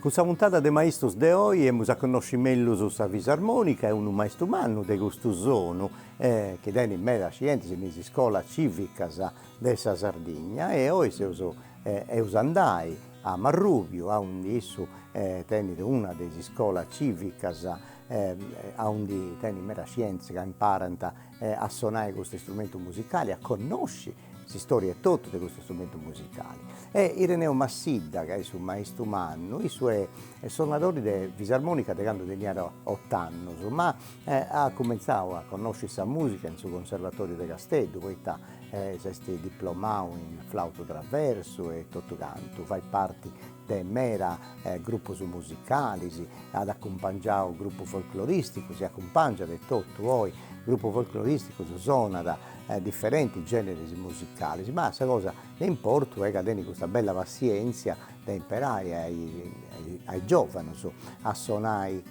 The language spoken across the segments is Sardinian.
Cun sa puntada de Maistrus de oi emus a connosci mellus sa Fisarmonica e unu maistru mannu de custu sonu chi tenit meda scientis in is iscolas civicas de sa Sardigna e oi seus eus a andai a Marrubiu aundi issu tenit una de is iscolas civicas aundi tenit meda scientis ca imparant a sonai custu istrumentu musicali a connosci S'istòria etotu de custu strumentu musicale. E Ireneu Massidda, ca est su maistru mannu, issu est sonadori de fisarmònica de candu teniat ot'annus, ma at cumentzau a connosci sa mùsica in su Conservatoriu de Casteddu, poita s'est diplomau in flautu traversu e totu cantu, fait parti de meda grupus musicalis, at acumpangiau grupus folcloristicus e acumpangiat etotu oi grupus folcloristicus, sonat diferenti generis musicalis ma sa cosa de importu est ca tenit custa bella passienzia de imparai a is giovanos a sonai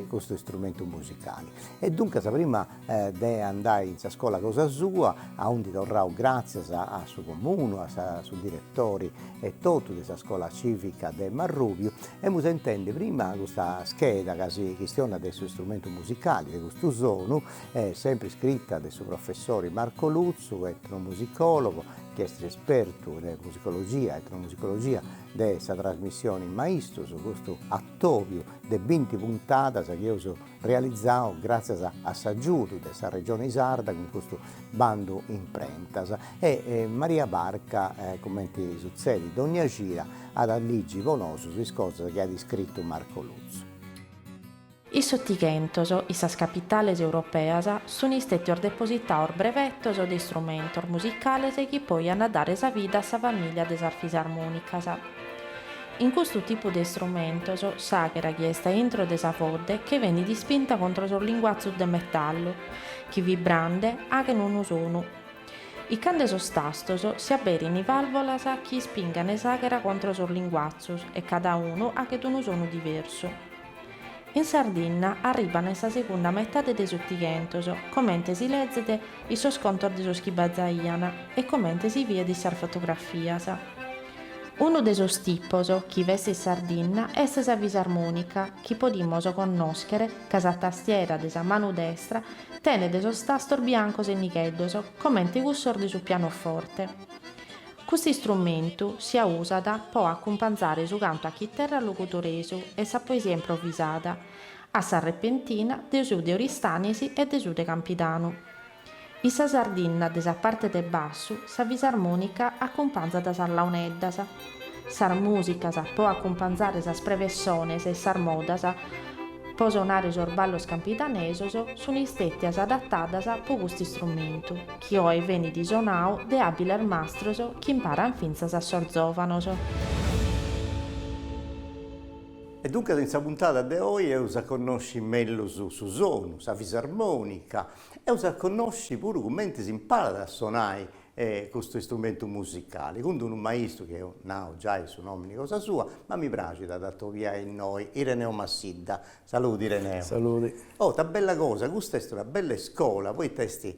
custu istrumentu musicali e duncas prima de andai in sa scola cosa sua aundi torraus gratzias a su comunu a su diretori e totu de sa scola civica de Marrubiu emus a intendi prima custa scheda ca si chistionat de su istrumentu musicali de custu sonu Sempre iscrita de su professori Marco Lutzu, etnomusicologo, chi est espertu de musicologia, etnomusicologia, de sa trasmissioni Maistrus, custu atòbiu de binti puntadas chi eus realizau gràtzias a s'agiudu de sa Regioni Sarda cun custu bandu imprentas. E Maria Barca, cumenti sutzedit dònnia cida, at a ligi po nosu is cosas chi at iscritu Marco Lutzu. In s'Otighentos, in sas capitales europeas, sunt istètios depositados brevetos de istrumentos musicales chi poi ant a dare sa vida a sa famìlia de sas fisarmònicas. In custu tipu de istrumentos, s'àghera chi est a intro de sa fodde che benit ispinta contro sos linguatzus de metallu chi vibrande aghen unu sonu incarcande sos tastos si aberin vàlvolas chi ispingan s'àghera contro sos linguatzus e cada unu aghet unu sonu diversu. In Sardinna arribban in sa segunda metade de s'Otighentos, comente si lezet in sos contos de sos chi bazaian e comente si viet in sas fotografias. Unu de sos tipos chi b'est in Sardinna est sa fisarmonica chi podimus connoschere ca sa tastiera de sa manu destra tenet sos tastos biancos e nigheddos comente cussos de su pianoforte. Custu istrumentu si usat po acumpanzare su cantu a chiterra logudoresu e sa poesia improvisada, a sa repentina, de su de Oristanisi e de su de Campidanu. In sa sardinna de sa parte de bassu sa fisarmònica acumpanzat sas launeddas. Sas mùsicas po acumpanzare sas prevessones e sas modas po sonare sos ballos campidanesos sun istètias adatadas po custu istrumentu. chi oe venit isonau de àbiles mastros chi imparan fintzas a sos zòvanos. E duncas in sa puntada de oe eus a connosci mellus su sonu, sa fisarmònica, eus a connosci puru cumenti s'imparat a sonai custu istrumentu musicali, cun d'unu maistu chi eus nau giai su nòmini cosa sua, ma mi praxit a dd'atobiai innoi, Ireneo Massidda, Saludi Ireneo. Saludi. Oh, ita bella cosa, custa est una bella iscola, poita est,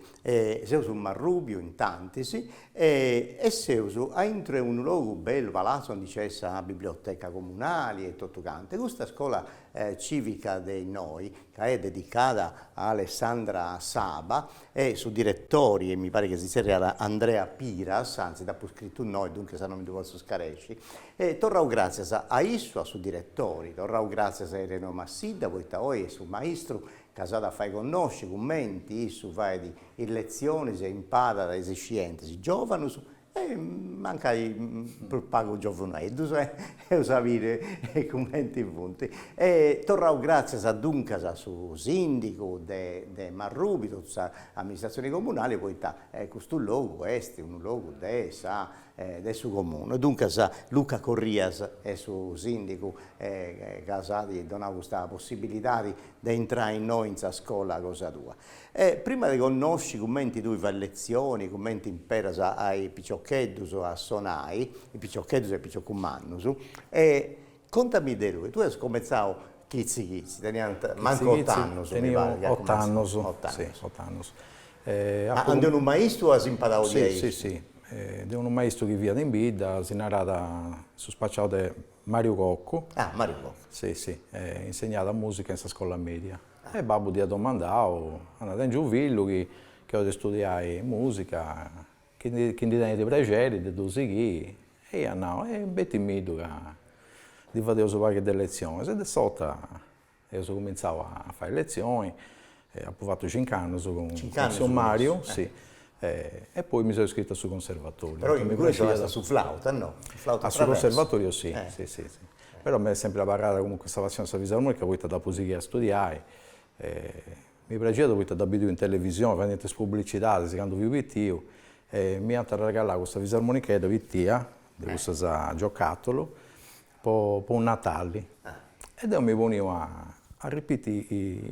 seus in Marrubiu intantis e seus aintru 'e unu logu bellu, palazzu aundi nc'est sa biblioteca comunali e totu cantu e custa scola civica de innoi, ca est dedicada a Alessandra Saba e su diretori e mi parit chi si zerriat Andrea Piras, anzi dd'apu scritu innoi e duncas su nòmini no ddu potzu scaresci, E torrau gràtzias a issu, a su diretori, torrau gràtzias a Ireneo Massidda, poita oi est su maistru ca s'at a fai connosci cumenti issu fait is letzionis e imparat is iscientis giòvanus e mancai prus pagu giòvuneddus eus a biri cumenti funt. E torrau gràtzias duncas a su sìndigu de de Marrubi, totu sa amministratzioni comunali poita custu logu est unu logu de sa de su Comunu e duncas Luca Corrias est su sìndigu ca s'at donau custa possibilidadi de intrai innoi in sa scola cosa tua. E prima de connosci cumenti tui fai letzioni, cumenti imperas a is piciocheddus a sonai, is piciocheddus e is piciocus mannus, e Contami de tue, tue as comentzau chitzi chitzi, teniast mancu ot'annus mi parit chi as comentzau, ot'annus, ot'annus. Ma de unu maistu as imparau diaici? Si, si, si, de unu maistu chi fiat in bidda, si narat, su spaciau de Mariu Coccu. Ah, Mariu Coccu. Si, si, insegnàt musica in sa scolla media. E babbu dd'iat domandau, andà, tengiu unu fillu chi 'olit istudiai musica, Chi ndi tenit prexeri de ddu sighiri, e iat nau, e betimiddu ca ndi fadeus unu pagu de letzionis. E de s'ora eus cumintzau a fai letzioni, apu fatu cincu annus cun tziu Mariu, si, e poi mi seu iscritu a su conservatoriu. Però inguni sonast a su flautu, no? A su conservatoriu si, si si si. Però m'est sempri abarrada comunque sa passioni de sa fisarmonica poita dd'apu sighia a studiai Mi praxiat poita dda bidiu in televisioni fadendi is publicidadis candu fiu pitiu e m'iant arregallau custa fisarmonichedda pitia de cussas a giocatulu po po Natali e deu mi poniu a a ripiti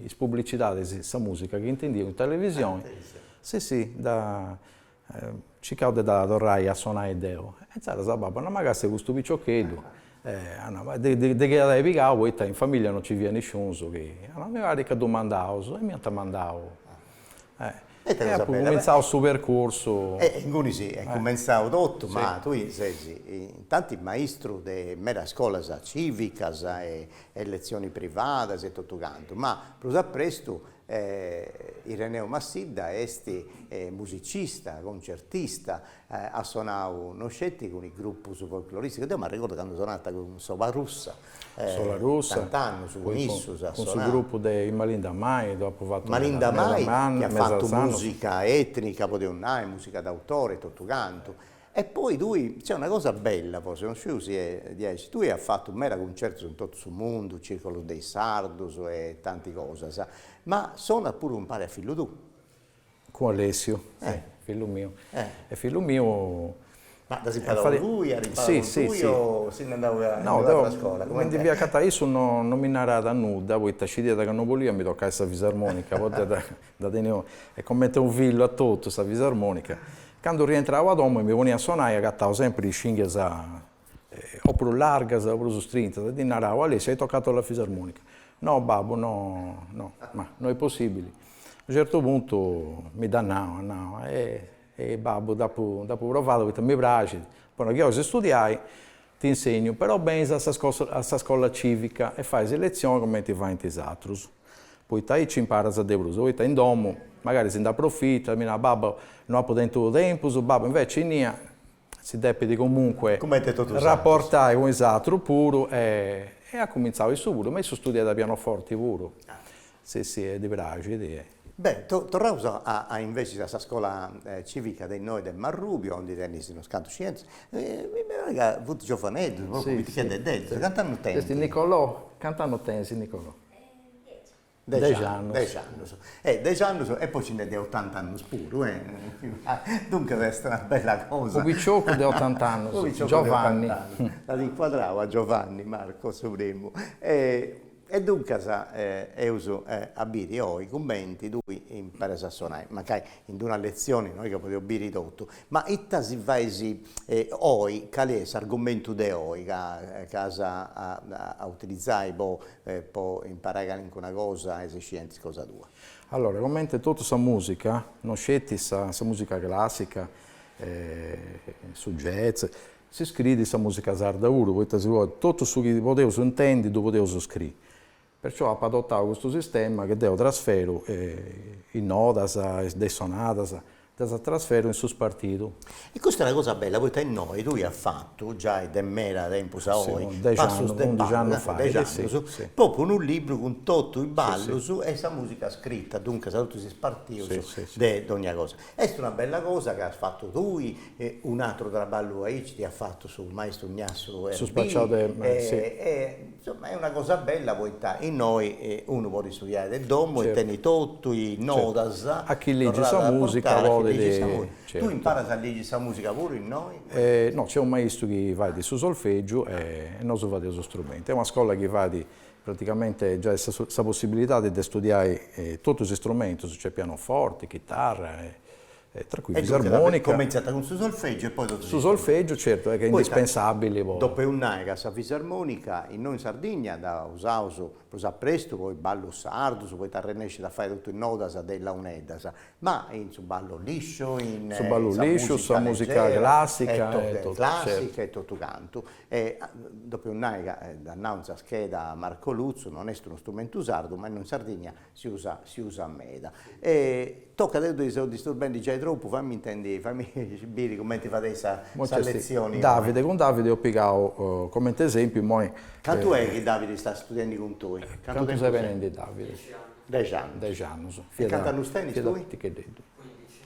is publicidadis sa musica chi intendiu in televisioni, si si, da Circau de dda torrai a sonai deu. E inzaras babbu at nau ma gasi custu piciocheddu, de chini at ai pigau poita in familia non ci fiat nisciunus chi. Mi parit ca ddu mandaus e m'iant mandau. E apu cumintzau su percursu. E inguni si est cumentzau totu, ma tui ses intanti maistru de medas scolas civicas e letzioni privadas e totu cantu, ma prus a prestu Ireneu Massidda est musicista, concertista, at sonau no sceti cun is grupus folcloristicus, deu m'arregordu candu sonàt cun Sola Russa, tant'annus cun issus at sonau, cun su grupu de is Malinda Mai ddu apu fatu meda meda meda annus, Malinda Mai chi at fatu musica etnica, podius nai, musica d'autore e totu cantu E poi tui, cioè una cosa bella forsis, non sciu si est diaici, tui as fatu meda cuncertus in totu su mundu, circolus de is sardus e tanti cosas, ma sonat puru umpare a fillu tuu. Cun Alessiu, si, fillu miu. E fillu miu. Ma dd'as imparau tui, at imparau cun tui o si nd'est andau a in un'atra scola? Mi ndi fia acatada, issu non mi narat nudda, poita scidiat ca non bolia a mi tocai sa fisarmonica, poita Dda teniu comenti unu fillu a totu sa fisarmonica. Candu rientrau a domu e mi ponia a sonai agatau sempri is cinghias o prus largas o prus strintas e ddi narau, Alessio, hai toccato la fisarmonica. No, babbu, no, no. Ma, no è possibili. A unu certu puntu mi dd'at nau, at nau, E, e babbu, dd'apu, dd'apu provada poita mi praxit, però chi 'olis studiai, T'insegnu, però benis a sa scola cìvica e fais letzione comenti faint is atrus, poita aici imparas de prus, poita in domu magari si nd'aprofitat, mi narat, babbu no apu tentu tempus, babbu inveci innia si depit comunque raportai cun is atrus puru e at cumintzau issu puru, ma issu studiat a pianoforti puru Si si ti praxit. Beh, torraus a inveces a sa scola civica de innoi de Marrubiu, aundi tenis unos cantus scientis, mi parit ca funt giovaneddus, propriu piticheddeddus, cant'annus tenint? Est Nicolò, cant'annus tenis Nicolò? Dexi annus. Dexi annus. E dexi annus e poi nci nd'est de otant'annus puru, e duncas est una bella cosa. U' picioccu de otant'annus, Giovanni. U' picioccu de otant'annus. Dd'at incuadrau a Giovanni Marco su primu E duncas eus a biri oi cumenti tui imparas a sonai, mancai in d-una letzioni no est chi podeus biri totu, ma ita si fais oi, cali est s'argumentu de oi ca as a utilizai po po imparai calincuna cosa a is scientis cosa tua. Allora, cumenti totu sa musica, no sceti sa sa musica classica e su jazz, Si scriit sa mùsica sarda puru, poita si podit, totu su chi podeus intendi ddu podeus scriri. Perciò apu adotau custu sistema chi deu trasferu is nodas de is sonadas, ddas trasferu in su spartidu. E custa est una cosa bella, poita innoi tui as fatu, giai de meda tempus a oi, passus de ballu, dexi annus, po po unu libru cun totu is ballus e sa mùsica scrita, duncas totus is spartius de dogna cosa. Est una bella cosa ca as fatu tui, un'atru traballu aici dd'at fatu su maistru Gnassu Erbì. Su spaciau de, si. E insoma est una cosa bella poita innoi unu podit studiai de domu e tenit totu is nodas torradas a portai, a chi ligit sa musica. Tui imparas a ligi sa musica puru innoi? No, nc'est unu maistu chi fait su solfegiu e nosu fadeus su strumentu. Est una scola chi fait Praticamente giai sa possibilidadi de studiai totu is strumentus, cioè pianoforti, chitarra e tra cui fisarmonica. E cumintziat cun su solfègiu e poi totus is. Su solfègiu certu est indispensabili po. Tocat a nai ca sa fisarmonica innoi in Sardigna dda usaus prus a prestu po is ballus sardus, poita arrennescit a fai totu is nodas de is launeddas, ma in su ballu lisciu, in sa musica leggera e totu cantu. E tocat a nai ca dd'at nau in sa scheda Marco Lutzu, non est unu strumentu sardu, ma innoi in Sardigna si usat si usat meda. E tocat, deu ti seu disturbendi giai tropu, fammi intendi fammi biri cumenti fadeis sa sa letzioni imoi. Davide, cun Davide eus pigau comenti esempiu imoi. Cantu est chi Davide est studiendi cun tui? Cantu tempus est? Cantu ses benendi Davide? Dexi annus. Dexi annus. Dexi annus. E cantu annus tenis tui? Fiat picheddeddu.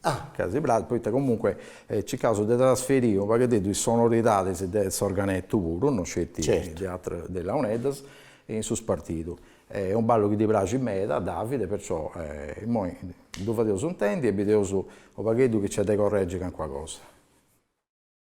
Ah! Ca ddi praxit, poita comunque circaus de trasferiri unu pagheddeddu is sonoridadis de s'organettu puru, no sceti de ateras, de launeddas, in su spartidu. Est unu ballu chi ddi praxit meda, Davide, perciò immoi ddu fadeus intendi e bideus unu pagheddu chi nc'est de corregi calincuna cosa.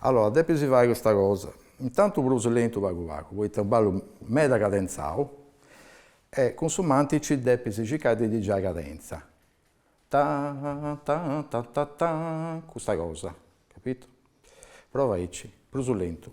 Allora, depis fai custa cosa, intantu prus lentu pagu pagu, poita est unu ballu meda cadentzau, e cun su mantici depis circai de ddi giai cadentza, tan tan tan tan tan, custa cosa, capitu? Prova aici, prus lentu.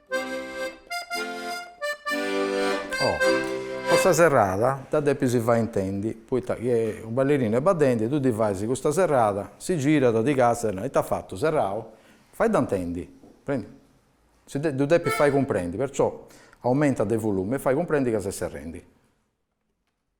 po sa serrada dda depis fai intendi, poita chi unu ballerinu est baddendi e tui ddi fais custa serrada, si girat, ti càstiat e narat, ita at fatu, serrau? Faidda intendi, si dda depis fai cumprendi, perciò aumentas de volumi e fai cumprendi ca ses serrendi.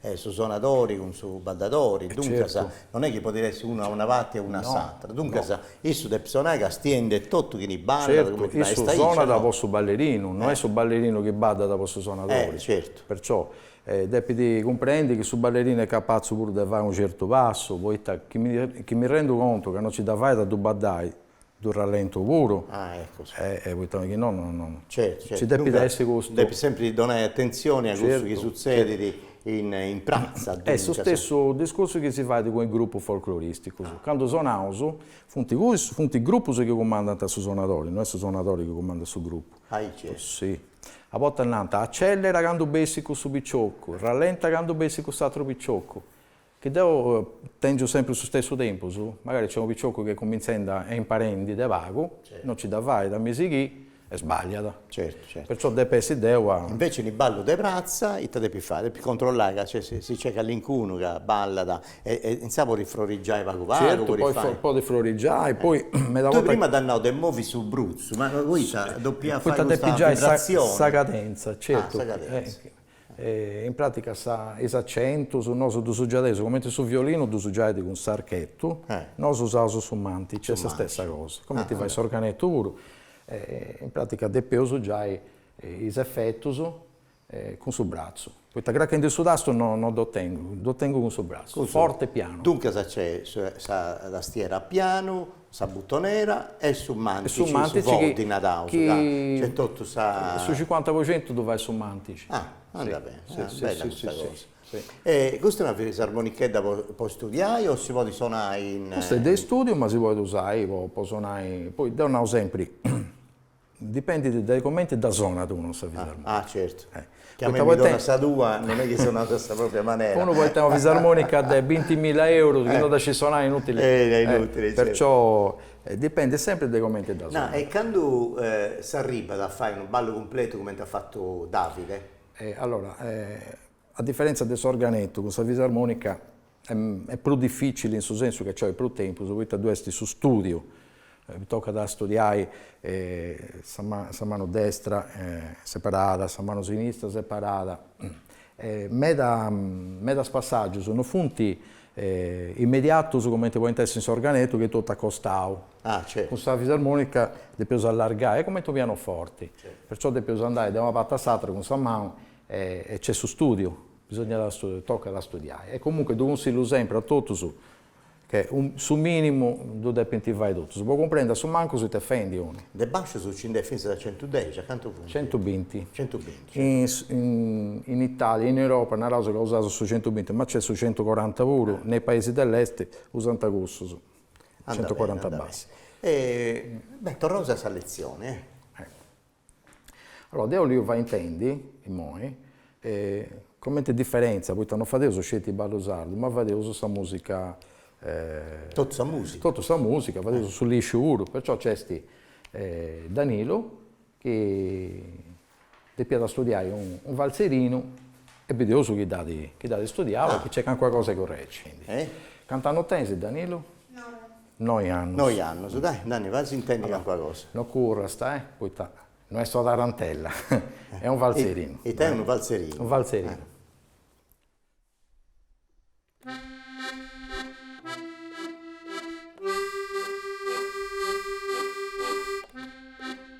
E su sonadori cun su baddadori, duncas, non est chi podit essi unu a una parti e unu a s'atra, duncas, issu depit sonai castiendi totu chini baddat, cumenti fai Issu sonat po su ballerinu, no est su ballerinu chi baddat po su sonadori. Perciò, depit cumprendi chi su ballerinu est capatzu puru de fai unu certu passu, poita chi mi rendu contu ca non ci dda fait a ddu baddai, Ddu rallentu puru. Ah eccoci. Eh poita chi no no no. Certu certu. Ci depit essi custu. Depis sempri donai atentzioni a cussu chi sutzedit in in pratza. Est su stessu discursu chi si fait cun is grupus folcloristicus. Candu sonaus funt cussus, funt is grupus chi cumandant a su sonadori, no est su sonadori chi cumandat su grupu. Aici. Si. A bortas nant, acellera candu bessit cussu piciocu, rallenta candu bessit cuss'atru piciocu. Chi deu tèngiu sempri su stessu tempus, magari nc'est unu picioccu chi est cumintzendi e imparendi de pagu, no nci dda fait a mi sighì e sbàlliat. Certu, certu. Perciò depu essi deu a. Invece unu ballu de pratza ite depit fai? Depit controllai ca si nc'est calincunu ca ballat e e insaras podit frorigiai pagu pagu. Certu, podit podit frorigiai, poi meda bortas. Tui prima dd'as nau de movi su brutzu, ma poita depia fai custa vibrazioni. Poita depi giai sa cadentza, certu. Ah, sa cadentza. In pràtica is acentus nosu ddus giadeus cumenti su violinu ddus giat cun s'archetu, nosu usaus su mantici, est sa stessa cosa, cumenti fait s'organetu puru, in pràtica depeus giai is efetus cun su bratzu, poita crachendi su tastu no no ddu tengu, ddu tengu cun su bratzu, forti e pianu. Duncas nc'est sa tastiera a pianu, Sa butonera e su mantici, su foddi naraus, ca nc'est totu sa. Su cincuanta po centu ddu fait su mantici. Ah, andat beni, bella custa cosa. E custa est una fisarmonichedda po studiai o si podit sonai in. Custa est de istùdiu ma si podit usai po sonai, poi deu nau sempri, Dipendit dae comenti dda sonat unu a sa fisarmonica. Ah, certu. Chi a mei mi donat sa tua, non est chi sonat a sa propria manera. Unu podet tenni una fisarmonica de bintimilla euru chi non dda scit sonai inutili. Est inutili, certu. Perciò dipendit sempri dae comenti dda sonat. No, e candu s'arribat a fai unu ballu cumpletu comenti at fatu Davide? Allora A diferèntzia de s'organetu, cun sa fisarmònica est prus difìcili in su sensu chi nc'olit prus tempus, poita ddu est su stùdiu, tocat a studiai sa manu destra separada, sa manu sinistra separada, medas passàgius non funt immediatus cumenti podint essi in s'organetu chi est totu a costau, cun sa fisarmònica depeus allargai, est cumenti unu pianoforti, perciò depeus andai de una parti a s'atera cun sa manu E nc'est su stùdiu, bisogna studiare, tocat a studiai. E comunque ddu cunsillu sempri a totus che su minimu ddu depint fai totus, po cumprendi a su mancu it'est fendi unu. De bascius nci nd'est fintzas a centudexi, a cantu funt? Centubinti. Centubinti. In Italia, in Europa naraus ca usaus su centubinti, ma nc'est su centucoranta puru, ne is paisis de l'est usant cussus, centucoranta bascius. Beh, torraus a sa letzioni. Allora deo 'oliu fai intendi, immoi, comente diferentzia, poita non fadeus sceti ballu sardu, ma fadeus sa musica, totu sa musica, totu sa musica, fadeus su lisciu puru, perciò nc'est Danilu chi depiat studiai unu falzerinu e bideus chi dd'at studiau e chi nc'est calincuna cosa de correxi. Cantu annus tenis Danilu? Noi. Noi annos. Noi annos. Dai, Nanni, fai-sì intendi calincuna cosa. No curras, eh, poita no est una tarantella, est unu faltzerinu. Ita est unu faltzerinu? Unu faltzerinu.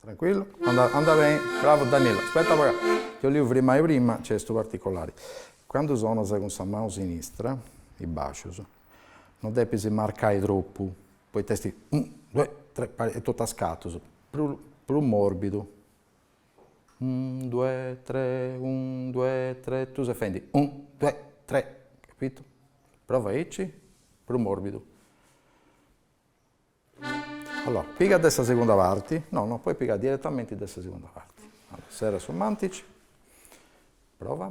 Tranquillu, andat beni, bravu Danilo, aspetta apo agatau, ti 'oliu frimmai prima, nc'est custu particolari, candu sonas cun sa manu sinistra, is bascius, non depis marcai tropu, poita est unu duai tres e totu a scatus, prus prus morbidu Unu due tre unu due tre tui ses fendi unu due tre capitu prova aici prus morbidu allora piga de sa segunda parti no no podis pigai direttamenti de sa segunda parti serra su mantici prova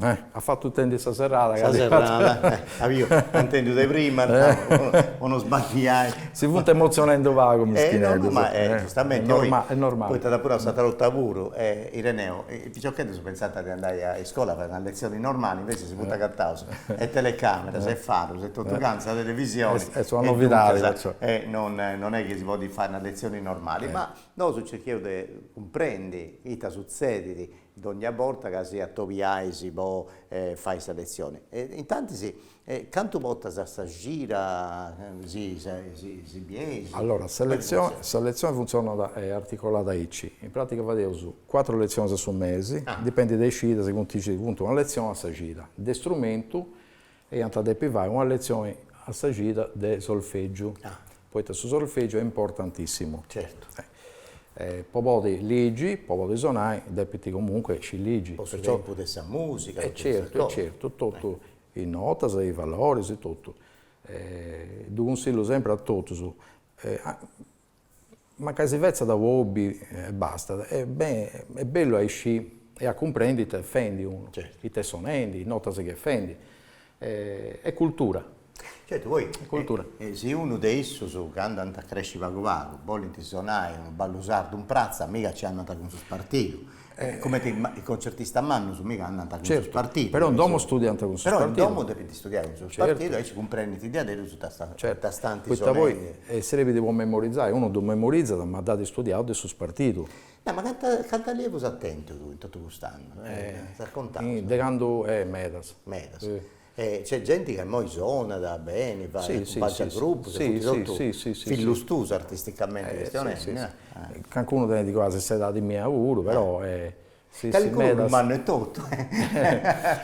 At fatu intendi sa serrada. Sa serrada, emu intendiu de prima, po no sballiai. Si funt emotzionendu pagu mischineddus. Ma est giustamenti, oi, poita apu nau s'atra 'olta puru, Ireneo, is piciocheddus pensànt de andai a iscola a fai una letzioni normali, invecias si funt agataus is telecameras e farus e totu cantu sa televisioni, e duncas, non est chi si podit fai una letzioni normali, ma Nosu cercheus de cumprendi ita sutzedit dogna borta ca si atobiais po fai sa letzioni. Intantis, cantu bortas a sa cida si bieis? Allora, sa letzioni, sa letzioni funtzionat est articolada aici. In pràtica fadeus cuatru letzionis a su mesi, dipendit de is cidas, si funt is cidas, funt una letzioni a sa cida de strumentu e iant a depi fai una letzioni a sa cida de solfègiu, poita su solfègiu est importantissimu, po podi ligi, po podi sonai depint comunque sci ligi, po su tempus de sa musica, e certu e certu, totu is notas, is valoris, totu, ddu cunsillu sempri a totus Mancai si fetzat po hobby e bastat, est bellu a iscì e a cumprendi it'est fendi unu, it'est sonendi, notas chi est fendi, est cultura. Certu, poi si unu de issus candu ant a cresci pagu pagu bolint sonai unu ballu sardu in pratza, mica nci andant cun su spartidu Comenti is contzertistas mannus mica andant cun su spartidu. Però in domo studiant cun su spartidu. Però in domo depint istudiai cun su spartidu, aici cumprendint diaderus ita ant is solennias. E serbit po memorizai, unu ddu memorizat ma dd'at istudiadu de su spartidu. No, ma cantu allievus as tentu in totu cust'annus, ddus as contaus? De candu, medas. Medas. E nc'est genti ca immoi sonat beni, faint giai grupus, e funt totu fillus tuus artisticamenti chistionendi, no? Calincunu tenit quasi s'edadi mia puru, però si si medas. mannu etotu,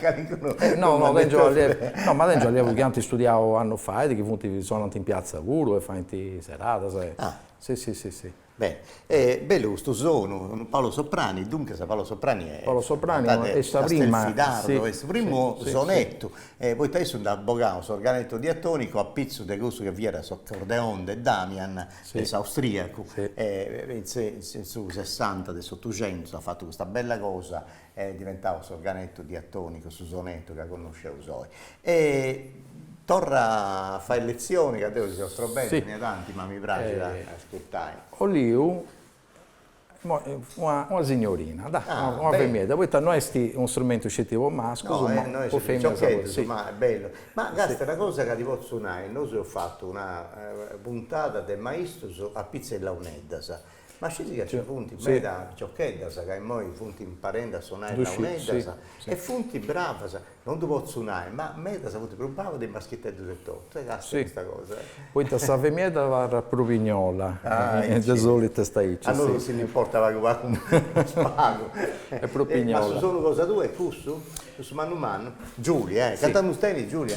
calincunu no no tengiu allievu, no ma tengiu allievus chi ant istudiau annus fait chi funt sonant in piazza puru e faint seradas e, si si si si Bene est bellu custu sonu, unu Paolo Soprani, duncas Paolo Soprani est Paolo Soprani est sa prima Castelfidardo, est su primu sonettu e poita issu nd'at bogadu s'organetto diatonico a pitzus de cussu chi fiat s'accordeon de Damian de s'austriacu e in su sessanta de s'otuxentu s'at fatu custa bella cosa Est diventadu s'organetu diatònicu su sonetu ca connosceus oi. E torra a fai letzioni ca deo si seus strobende intanti, ma mi praxit a ascurtai. Oliu una signorina, dai, una femiedda, poita no est unu strumentu sceti po mascus, ma po feminas puru. Ma est bellu. Ma càstia una cosa ca ti potzu nai, nosu eus fatu una puntada de maistus a pitzus 'e launeddas Ma scesi ca nci funt meda piciocheddas ca immoi funt imparende a sonai launeddas e funt bravas, non ddu potzu nai, ma medas funt prus bravas de is maschiteddus etotu, càstia custa cosa. Poita sa femiedda abarrat prus pignola, de solitu est aici. A nosu si nd'importat pagu pagu, prus pagu. Est prus pignola. Ma su sonu, cosa tua est cussu? Cussu mannu mannu? Giulia, cantu annus tenit Giulia?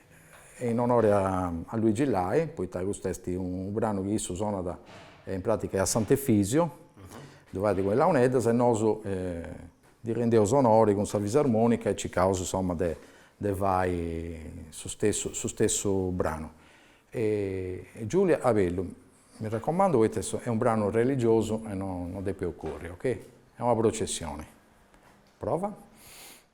in onore a Luigi Lai, poita custu est unu branu chi issu sonat in pratica a Sant'Efisio, ddu fait cun is launeddas e nosu ddi rendeus onori cun sa fisarmonica e circaus insoma de de fai su stessu su stessu branu. Giulia a bellu, mi raccomando poita est est unu branu religiosu e no no depis curri, ok. È una processione. Prova.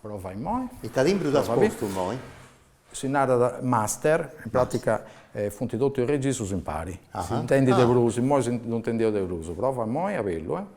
Prova immoi. Ita timbru t'as postu immoi? Si narat master, in pràtica funt totus is registrus impari, s'intendit de prus, immoi ddu intendeus de prus. Prova immoi a bellu, eh.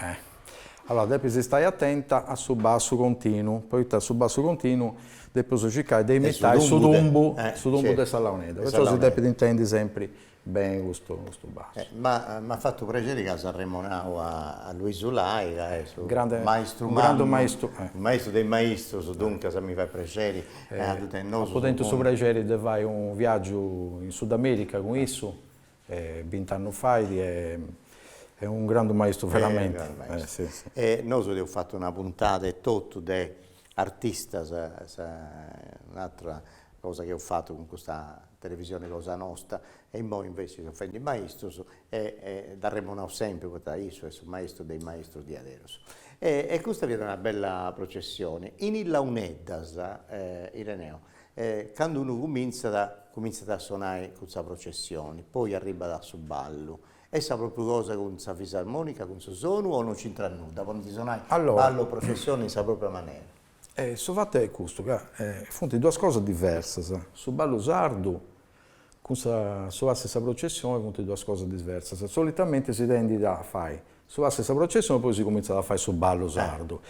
Eh. Allora depis istai atenta a su bassu continu, poita su bassu continu depius circai de imitai su tumbu, su tumbu de sa launedda, perciò si depit intendi sempri beni custu custu bassu. Ma m'at fatu prexeri ca as arremonau a a Luisu Lai ca est su grandu maistu mannu, u grandu maistu, eh, u maistu de is maistrus, duncas mi fait prexeri ca at tennosu su apu tentu su prexeri de fai u' viaggiu in Sudamerica cun issu E bint'annus fait est unu grandu maistu veramenti. E nosu eus fatu una puntada etotu de artistas, un'atra cosa chi eus fatu cun custa televisioni cosa nosta, e immoi inveci seus fendi maistus e e dd'arremonaus sempri poita issu est su maistu de is maistus diaderus. E custa fiat una bella processioni. In is launeddas Ireneo E candu unu cumintzat, cumintzat a sonai cun sa processioni, poi arribbat a su ballu. Est sa propriu cosa cun sa fisarmonica, cun su sonu o non c'intrat nudda, podint sonai ballu o processioni in sa propria manera? Su fatu est custu ca funt duas cosas diversas, su ballu sardu Cun sa su pass'e sa processione funt duas cosas diversas. Solitamente si tendit a fai su pass'e sa processione e poi si cumintzat a fai su ballu sardu.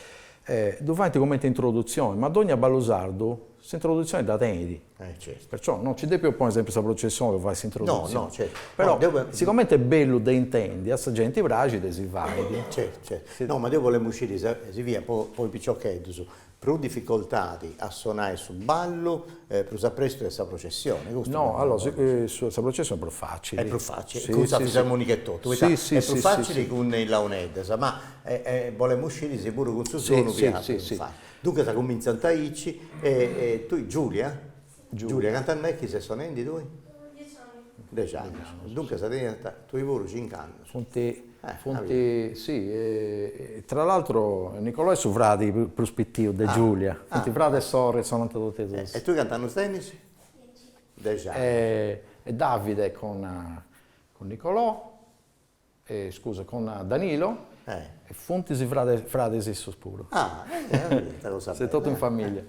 Ddu faint comente introdutzione, ma dogna ballu sardu s'introduzione dda tenit. Perciò no nci depint ponni sempri sa Processione po fai s'introduzione. Però sigomente est bellu de intendi, a sa genti praxit e si fait. No, ma deu bolemu sciri, si fiat po is piciocheddus Prus dificoltadi a sonai su ballu prus aprestu de sa processioni, custu. No, allora, sa processioni est prus facili. Est prus facili, cun sa fisarmonica e totu, poita est prus facili cun is launeddas, ma bolemus sciri si puru cun su sonu fiat prus facili. Duncas cumintzant aici e tui Giulia? Giulia, cant'annus est chi ses sonendi tui? Dexi annus. Dexi annus, duncas tenias tui puru cincu annus. Funt, funt, si, tra l'altro Nicolò est su fradi prus pitiu de Giulia, funt fradi e sorri e sonant totus e duus. E tui cantu annus tenis? Dexi. Dexi annus. E Davide cun Nicolò. Scusa, cun Danilo. E funt is frades issos puru. Ah, s'est totu in familia.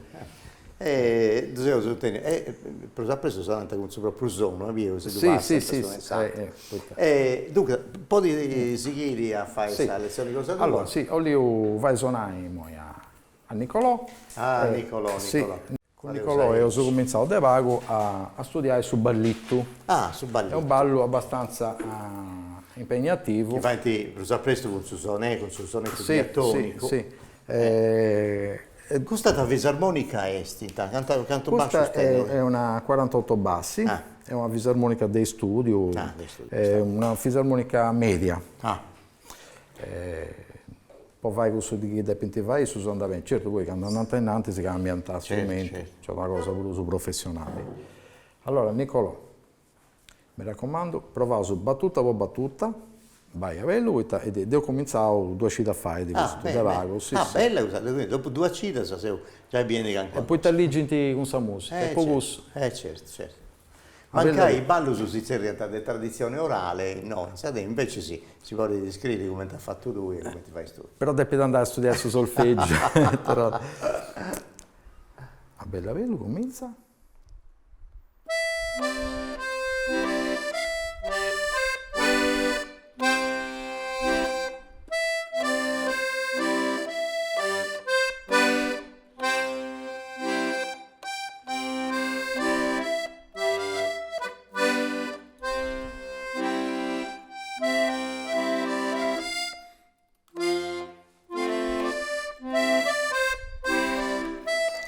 E totu in familia. E prus apressi sonant cun su pròpriu sonu, as biu, si ddu passant su messaggiu. E duncas, podis sighiri a fai sa letzioni cosa tua. Allora, si, 'olliu fai sonai imoi a Nicolò. Ah, Nicolò, Nicolò. Cun Nicolò eus cumintzau de pagu a studiai su ballitu. Ah, su ballitu. Est unu ballu abastanza impegnativu. Chi faint prus a prestu cun su sonettu, cun su sonettu diatonicu. Si, si. Custa ta fisarmonica est? Cantu cantu bascius tenit? Custa est una cuarantotto bassi, est una fisarmonica de istùdiu, est una fisarmonica mèdia. po fai cussu chi depint fai issus andat beni, certu poi candu andant a innantis cambiant strumentu, nc'est una cosa prus professionali. Allora Nicolò, mi racomandu, provaus batuta po batuta, bai a bellu poita dd'eus cumintzau duas cidas fait custu de pagu, si si. Bella custa, quindi dopu duas cidas seu giai bieni calincuna cosa. E poita ligint cun sa musica, po cussu. Eh certu, certu. Mancai ballus si tzerriant de traditzione orale, non funt ca invece si, si podit iscriri cumenti as fatu tui e cumenti fais tui. Però depit andai a studiai su solfègiu e torrai. A bellu a bellu cumintzat.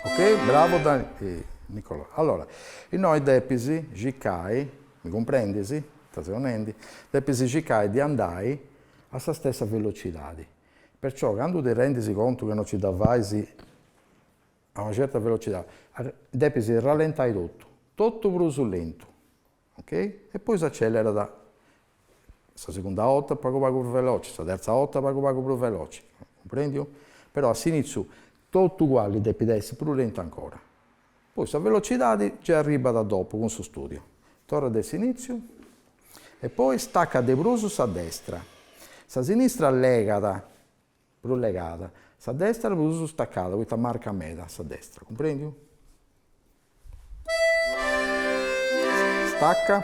Okey bravo Nicolò. Allora, innoi depis circai, mi cumprendis ita seu nendi, depis circai de andai a sa stessa velocidadi Perciò candu ti rendis contu ca no nci dda fais a una certa velocidadi, depis rallentai totu, totu prus lentu, ok, e poi s'acellerat sa segunda 'orta pagu pagu prus veloci, sa terza 'orta pagu pagu prus veloci, cumprendiu? Però a s'initziu totu aguali depit essi prus lentu ancora, Poi sa velocidadi gei arribat dopu cun su studiu. Torra de s'initziu e poi staca de prus sa destra. Sa sinistra legat, prus legada, sa destra prus stacada, poita marcat meda sa destra, cumprendiu? Staca.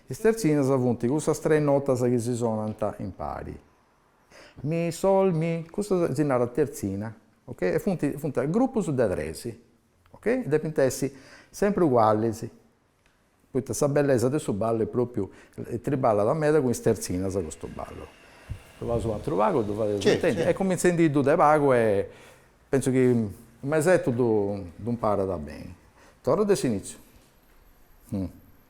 Is tertzinas funt cussas tres notas chi si sonant impari. Mi, sol, mi, cussa si narat tertzina, ok, e funt funt grupus de tres, ok, depint essi sempri ugualis, poita sa bellesa de su ballu est propriu, triballat meda cun is tertzinas custu ballu. Ddu faus u' atru pagu e ddu fadeus intendi, e cumintzendi-ddu de pagu e pentzu chi u' mesetu ddu imparat beni. Torru de s'initziu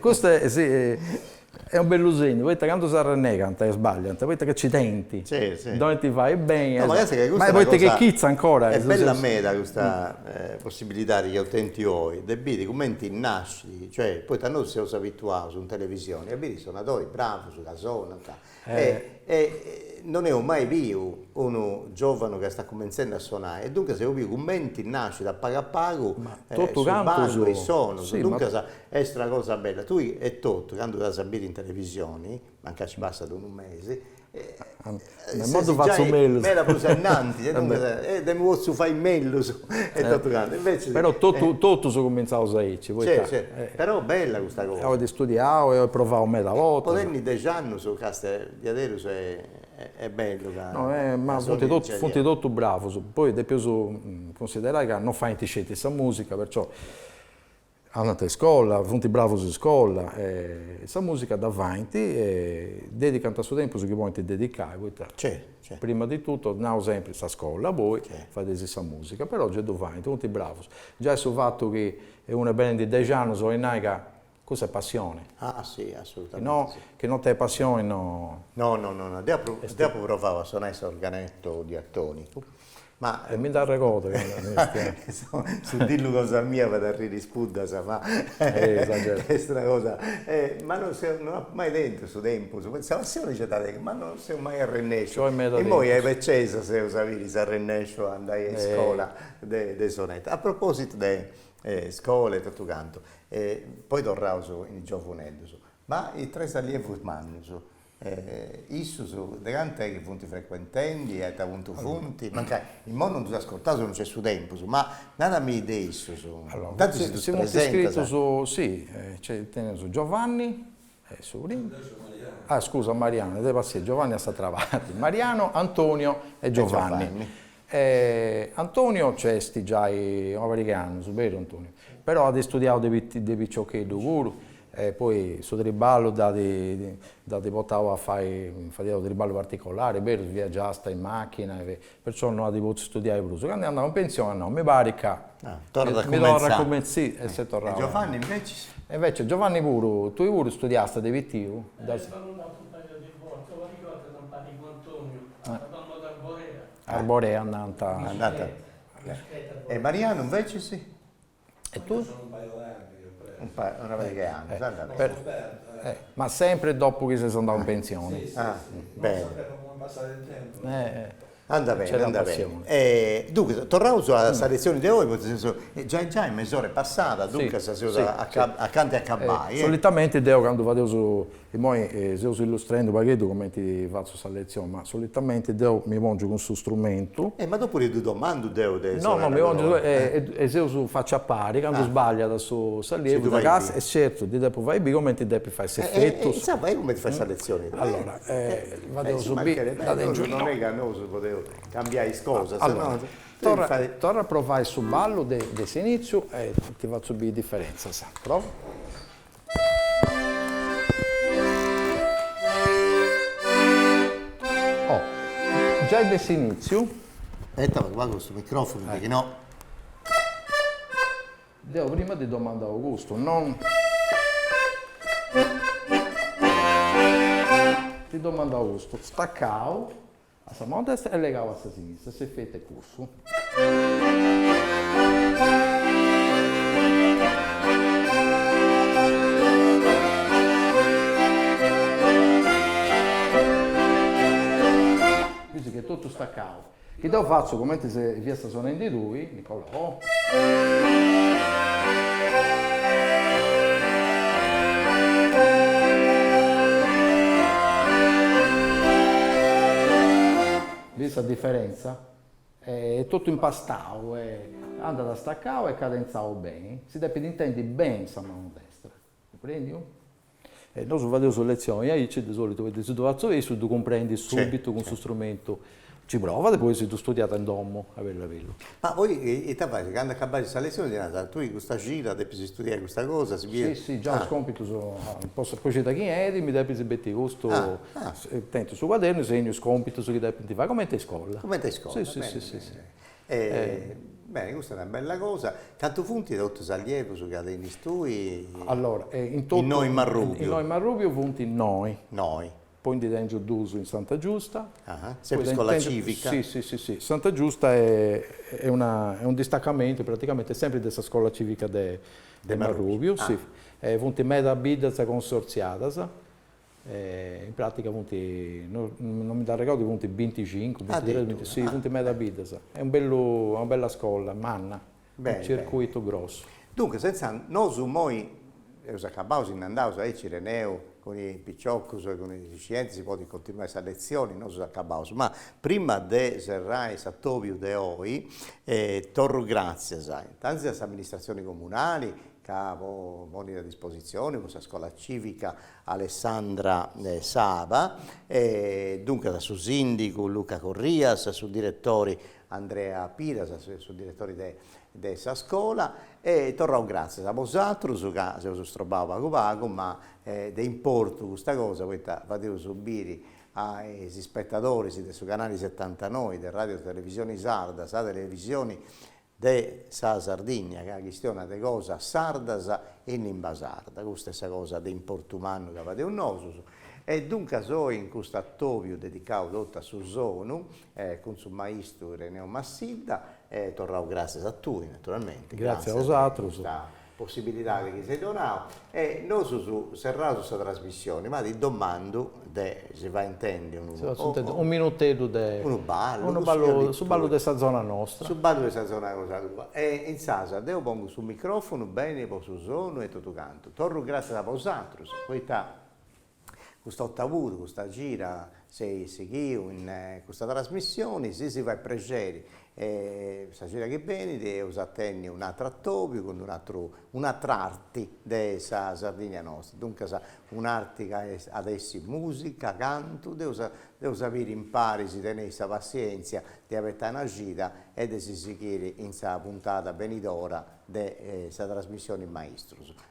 Custu est unu bellu segnu, poita candu s'arrennegant e sbagliant, poita ca nci tenint, ddu 'olint fai beni, ma poita ca est chitza ancora. Est bella meda custa possibilidadi chi eus tentu oi de biri cumenti nascit, cioè, poita nosu seus abituaus in televisioni a biri is sonadoris bravus ca sonant E non eus mai biu unu giovanu ca istat cumentzendi a sonai e duncas eus biu cumenti nascit a pagu a pagu su ballu e is sonus, duncas est una cosa bella, tui etotu candu t'as a biri in televisioni, mancai nci passat unu mesi, ses giai meda prus a innantis e duncas, e deu immoi potzu fai mellus. E totu cantu, invecias. Però totu totus cumintzaus aici, poita. Sì, sì. Però bella custa cosa. Oi istudiau e oi provau medas bortas. Po tenni dexi annus castia diaderus est bellu ca. No, ma funt totus funt totus bravus, poi depeus cunsiderai ca no faint sceti sa musica, perciò. Andant a iscola, funt bravus a iscola e sa musica dda faint e dedicant su tempus chi podint dedicai poita prima di tutto, nau sempri, sa scola poi fadeis sa musica, però gei ddu faint, funt bravus. Giai su fatu chi unu est bennendi dexi annus 'olit nai ca cussa est passioni. Ah si, assolutamente si. Chi non tenit passioni no. No no no no, deu apu deu apu provau a sonai s'organetto diatonicu Ma e mi nd'arregodu su dillu cosa mia fait arriri is puddas ma est una cosa ma non seu non apu mai tentu su tempus poita sa passioni nc'est e tengu ma non seu mai arrennesciu immoi a sa becesa eus a biri si arrennesciu a andai a iscola de de soneta. A propositu de iscola e totu cantu poi torraus in is giovuneddus ma intre is allievus mannus E issus de cantu est chi funt frequentendi e a ita puntu funt? Mancai imoi non ddus ascurtaus e non nc'est su tempus, ma narami de issus, intantu si ddus presentas. Si, nc'est, teneus Giovanni, e su primu. Ah scusa, Mariano, de passienza, Giovanni a s'atra parti, Mariano, Antonio e Giovanni. E Antonio nc'est de giai una pariga 'e annus, beru Antonio? Però at istudiau de piciocheddu puru e poi su triballu dd'at portau a fai, fadiast triballu particolari, berus, viagiast in machina, perciò no at potziu istudiai prus. Candu est andau in pensioni at nau, mi parit ca mi torru a cumentzai. E s'est torrau a. E Giovanni invecias? E invecias Giovanni puru, tui puru istudiast de pitiu? Est andau in un'atra pariga de bortas, una pariga 'e bortas m'at parigu Antonio Arborea nant. E Marianu invecias? E tui? Una pariga 'e annus, andat. Ma sempri dopu chi ses andau in pensioni. Andat beni, andat beni. E duncas, torraus a sa letzioni de oi, poita seus giai giai mesor'e passada, duncas seus acanta 'e acabai. Solitamenti deu candu fadeus Immoi seus illustrendu u' pagheddu comenti fatzu sa letzioni, ma solitamenti deu mi pongiu cun su strumentu. Eh, ma dopu ddu domandu deu de sa narradora. No, no, mi pongiu e seus facci a pari, candu sbagliat s'allievu in casu, e certu, ddi depu fai biri comenti depit fai s'efetu. E insaras fai cumenti fait sa letzioni tui. Allora, fadeus biri, dda tengiu innoi. Non est ca nosu podeus cambiai is cosas. Allora, torra a provai su ballu de s'initziu e ti fatzu biri is diferentzas. Provu. Giai de s'initziu. Aspetta ca apagu custu microfonu chi si no. Deu prima ti domandau custu, non. Ti domandau custu staccau. A sa manu destra est legau a sa sinistra, s'efetu est cussu. Bis chi est totu stacau, chi deu fatzu cumenti chi fiasta sonendi tui. Bidis sa diferentza? Est totu impastau e andat stacau e cadentzau beni, si depit intendi beni sa manu destra. Cumprèndiu? E nosu fadeus letzioni aici, de solitu, poita si ddu fatzu issu ddu cumprendit subitu cun su strumentu. Nci provat e poi si ddu studiat in domu, a bellu a bellu. Ma poi ita fait, candu acabat sa letzioni ti narat, tui custa cida depis studiai custa cosa, si Si, si, già is compitus, po po cida chi 'enit mi depis betiri custu, tentu su cuadernu e segnu is compitus chi depint fai, comenti a iscola. Comenti a iscola, beni beni beni. Beni, custa est una bella cosa. Cantu funt totus is allievus chi tenis tui? Allora, in Marrùbiu funt noi. Noi. Poi ndi tengiu duus in Santa Giusta. Sempri iscola cìvica? Si, si, si, si. Santa Giusta est una, est unu distacamentu praticamenti sempri de sa scola cìvica de Marrùbiu, si. Funt medas biddas consortziadas, In pràtica funt, non mi nd'arregordu, funt binticincu, bintitres, binticuatru, si, funt meda biddas. Est unu bellu, est una bella scola, manna, unu circuitu grossu. Duncas, intzandus, nosu imoi eus acabau, si nd'andaus, aici Ireneu, cun is piciocus e cun is scientis, podit continuai sa letzioni, nosus acabaus. Ma prima de serrai s'atobiu de oi, torru gràtzias intantis a s'amministratzioni comunali, ca ponit a dispositzioni cussa Scola Civica Alessandra Saba, e duncas a su sìndigu Luca Corrias, a su diretori Andrea Piras, su diretori de de sa scola, e torrau gràtzias a bosatrus ca s'eus strobau pagu pagu, ma est de importu custa cosa poita fadeus biri a is ispetadoris de su canali setantanoi de Ràdiu Televisioni Sarda, sa televisioni de sa Sardigna ca chistionat de cosas sardas e in limba sarda, custa est sa cosa de importu mannu ca fadeus nosus, e duncas oi in custu atobiu dedicau totu a su sonu cun su maistu Ireneu Massidda, e torrau gràtzias a tui naturalmenti, gràtzias de custa possibilidadi chi s'as donau e nosus serraus sa trasmissioni ma ti domandu de si fai intendi unu minuteddu de unu ballu unu ballu su ballu de sa zona nostra su ballu de sa zona cosa tua e insaras deu pongu su microfonu beni po su sonu e totu cantu torru grassias a bosatrus poita Custa 'otta puru, custa cida, seis sighiu custa trasmissioni, si si fait prexeri e sa cida chi benit eus a tenni un'atru atobiu cun un'atru un'atra arti de sa Sardigna nosta, duncas un'arti ca at essi musica, cantu, dd'eus dd'eus a biri impari si teneis sa passienzia de abetai una cida e de si sighiri in sa puntada benidora de sa trasmissioni Maistrus.